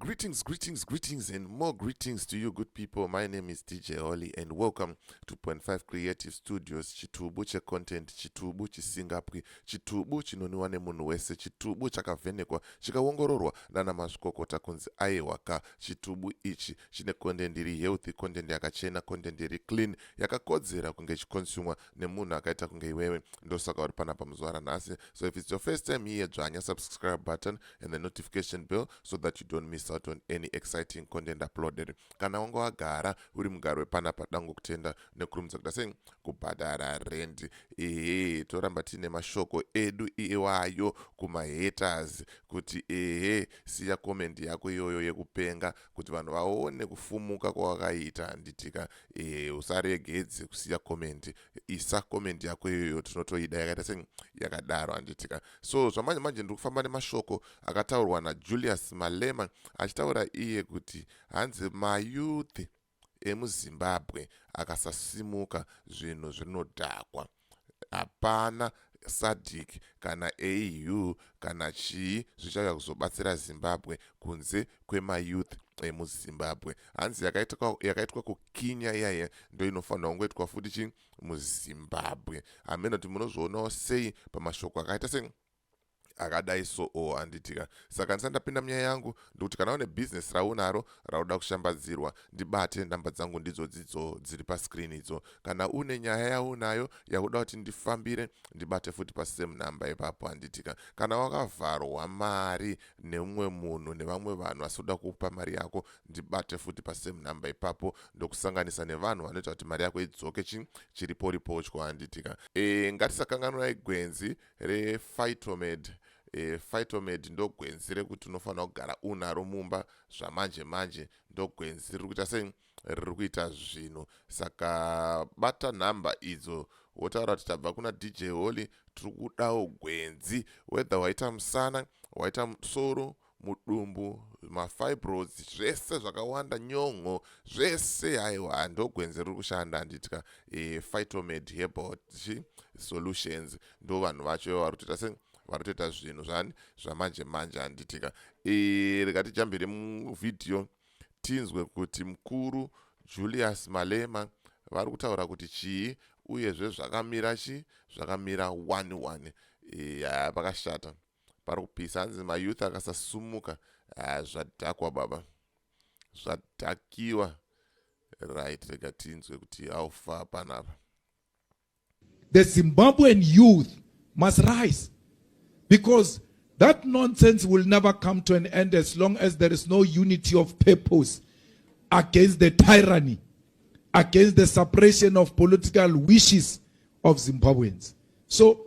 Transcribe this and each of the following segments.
Greetings, greetings, greetings, and more greetings to you, good people. My name is DJ Holly, and welcome to Point Five Creative Studios. Chitubu che content, chitubu chisingapwi, chitubu chinoniwa nemunhu wese, chitubu chakavhenekwa, chikaongororwa nana mazvikokota kunzi aiwaka. Chitubu ichi chine content iri healthy, content yakachena, content iri clean, yakakodzera kunge chikonsumwa nemunhu akaita kunge iwewe ndosaka uri panapa muzuva ranhasi so if it's your first time here dzvanya subscribe button and the notification bell so that you don't miss out on any exciting content uploaded kana wanga wagara uri mugaro wepanapa dango kutenda nekurumidza kuda sei kubhadhara rendi ehe toramba tiine mashoko edu iwayo kumahaters kuti ehe siya comment yako iyoyo yekupenga kuti vanhu vaone kufumuka kwawakaita nditika e, usaregedze kusiya comment isa comment yako iyoyo tinotoida yakaita se yakadaro handitika so zvamanje manje ndiri kufamba nemashoko akataurwa najulius malema achitaura iye kuti hanzi mayouth emuzimbabwe akasasimuka zvinhu zvinodhakwa hapana sadc kana AU kana chii zvichauya kuzobatsira Zimbabwe kunze kwemayouth emuzimbabwe hanzi yakaitwa, yakaitwa kukinya iyaye ndo inofanira kungoitwa futi chi muzimbabwe hameno kuti munozvionawo sei pamashoko akaita se akadai so o handitika saka ndisati ndapinda munyaya yangu ndikuti kana une bhizinesi raunaro rauda kushambadzirwa ndibate nhamba dzangu ndidzo dzidzo dziri pascreen idzo kana une nyaya yaunayo yakuda kuti ndifambire ndibate futi pasame number ipapo handitika kana wakavharwa mari neumwe munhu nevamwe vanhu vasi kuda kupa mari yako ndibate futi pasame number ipapo ndokusanganisa nevanhu vanoita kuti mari yako idzoke chi chiriporipochwa handitika e eh, ngatisakanganwai gwenzi rephytomed e, phytomed ndogwenzi rekuti unofanira kugara unaro mumba zvamanje manje ndogwenzi riri kuita sei riri kuita zvinhu saka bata nhamba idzo wotaura kuti tabva kuna dj holy tiri kudawo gwenzi whether waita musana waita musoro mudumbu mafibroids zvese zvakawanda nyon'o zvese haiwa ndogwenzi riri kushanda handitya e, phytomed herbal chi solutions ndo vanhu vacho ivo vari kutoita se vari kutoita zvinhu zvani zvamanje manje handitika e, rikatijambire muvhidhiyo tinzwe kuti mukuru julius malema vari kutaura kuti chii uyezve zvakamira chii zvakamira one one e, yaa pakashata pari kupisa hanzi mayouth akasasumuka ah, zvadhakwa baba zvadhakiwa right rega tinzwe kuti how far panapa the zimbabwean youth must rise because that nonsense will never come to an end as long as there is no unity of purpose against the tyranny against the suppression of political wishes of zimbabweans so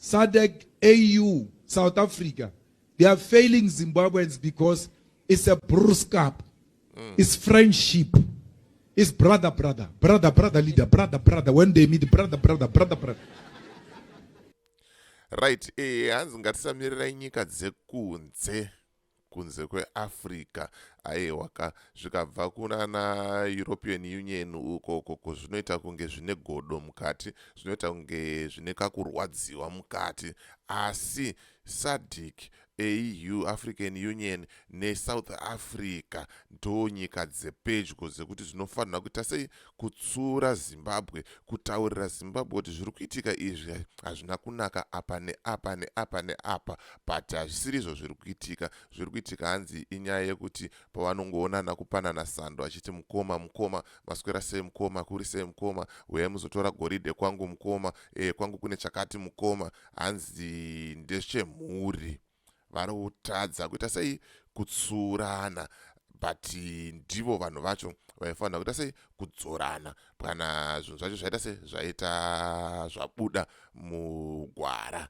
SADC, AU, South Africa, they are failing Zimbabweans because it's a bruskap, mm. it's friendship, it's brother, brother, brother, brother, leader, brother, brother, when they meet, brother, brother, brother, brother. Right, eh, hanzi ngatisamirirei nyika dzekunze. kunze kweafrica aiwa ka zvikabva kunana european union ukoko ko zvinoita kunge zvine godo mukati zvinoita kunge zvine kakurwadziwa mukati asi sadic au african union nesouth africa ndo nyika dzepedyo dzekuti zvinofanira kuita sei kutsura zimbabwe kutaurira zimbabwe kuti zviri kuitika izvi hazvina kunaka apa neapa neapa neapa but hazvisiri izvo zviri kuitika zviri kuitika hanzi inyaya yekuti pavanongoonana kupanana sando achiti mukoma mukoma maswera sei mukoma kuri sei mukoma huyai muzotora goridhe kwangu mukoma e, kwangu kune chakati mukoma hanzi ndechemhuri vari kutadza kuita sei kutsurana but ndivo vanhu vacho vaifanira kuita sei kudzorana kana zvinhu zvacho zvaita sei zvaita zvabuda mugwara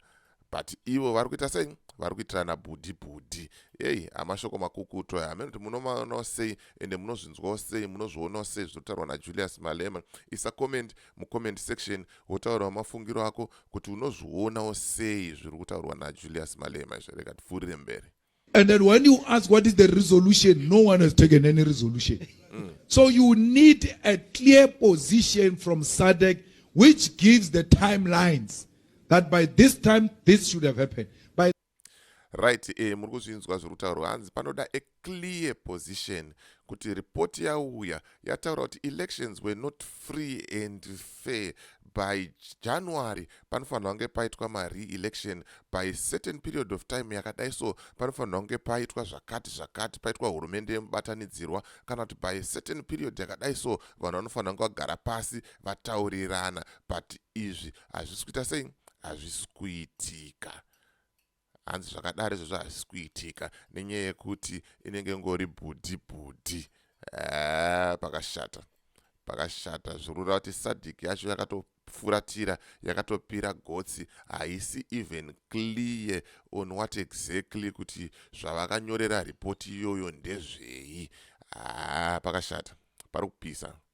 but ivo vari kuita sei vari kuitirana bhudhi bhudhi heyi amashoko makukutu aya hameno kuti munomaonawo sei ende munozvinzwawo sei munozvionawo sei zvinotaurwa najulius malema isa comment mucomment section wotaurawo mafungiro ako kuti unozvionawo sei zviri kutaurwa najulius malema izvo rega tipfuurire mberi and then when you ask what is the resolution no one has taken any resolution mm. so you need a clear position from sadec which gives the timelines that by this time this should have happened right eh, muri kuzvinzwa zviri kutaurwa hanzi panoda a clear position kuti ripoti yauya yataura kuti elections were not free and fair by january panofanirwa kunge paitwa mareelection by certain period of time yakadai so panofanirwa kunge paitwa zvakati zvakati paitwa hurumende yemubatanidzirwa kana kuti by certain period yakadai so vanhu vanofanira kunge vagara pasi vataurirana but izvi hazvisi kuita sei hazvisi kuitika hanzi zvakadaro izvozvo hazvisi kuitika nenyaya yekuti inenge ngori bhudhi bhudhi eh, pakashata pakashata zvorura kuti sadhiki yacho yakatofuratira yakatopira gotsi haisi even clear on what exactly kuti zvavakanyorera ripoti iyoyo ndezvei haa ah, pakashata pari kupisa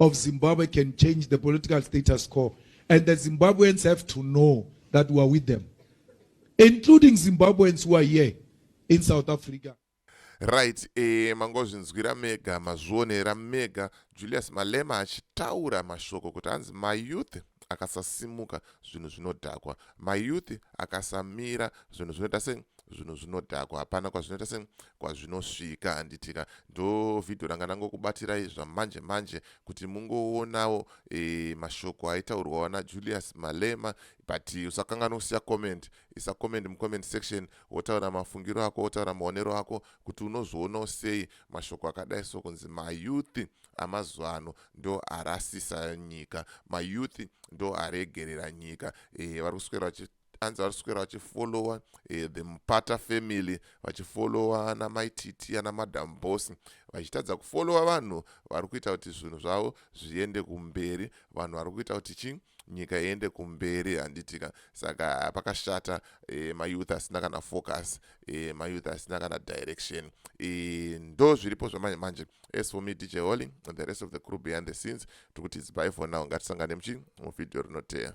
of Zimbabwe can change the political status quo. And the Zimbabweans have to know that we are with them, including Zimbabweans who are here in South Africa. right eh, mangozvinzwira mega mazvionera mega julius malema achitaura mashoko kuti hanzi mayouth akasasimuka zvinhu zvinodhakwa mayouth akasamira zvinhu zvinoita sei zvinhu zvinodhakwa hapana kwazvinoita se kwazvinosvika handitika ndo vhidhiyo ranga ndangokubatirai zvamanje manje kuti mungoonawo e, mashoko aitaurwawo najulius malema but usakanganwa kusiya comment isa comment mucomment section wotaura mafungiro ako wotaura maonero ako kuti unozvionawo sei mashoko akadai so kunzi mayouth amazuva ano ndo arasisa nyika mayouth ndo aregerera nyika e, vari kuswera anzi vari kuswera vachifollowa eh, the mupata family vachifollowa ana maititi ana madam boss vachitadza kufollowa vanhu vari kuita kuti zvinhu zvavo zviende kumberi vanhu vari kuita kuti chii nyika iende kumberi handitika saka pakashata e, mayouth asina kana focus e, mayouth asina kana direction e, ndo zviripo zvamanje manje as for me dj holy and the rest of the crew behind the scenes tikuti its by for now ngatisangane muchi muvhidhiyo rinoteya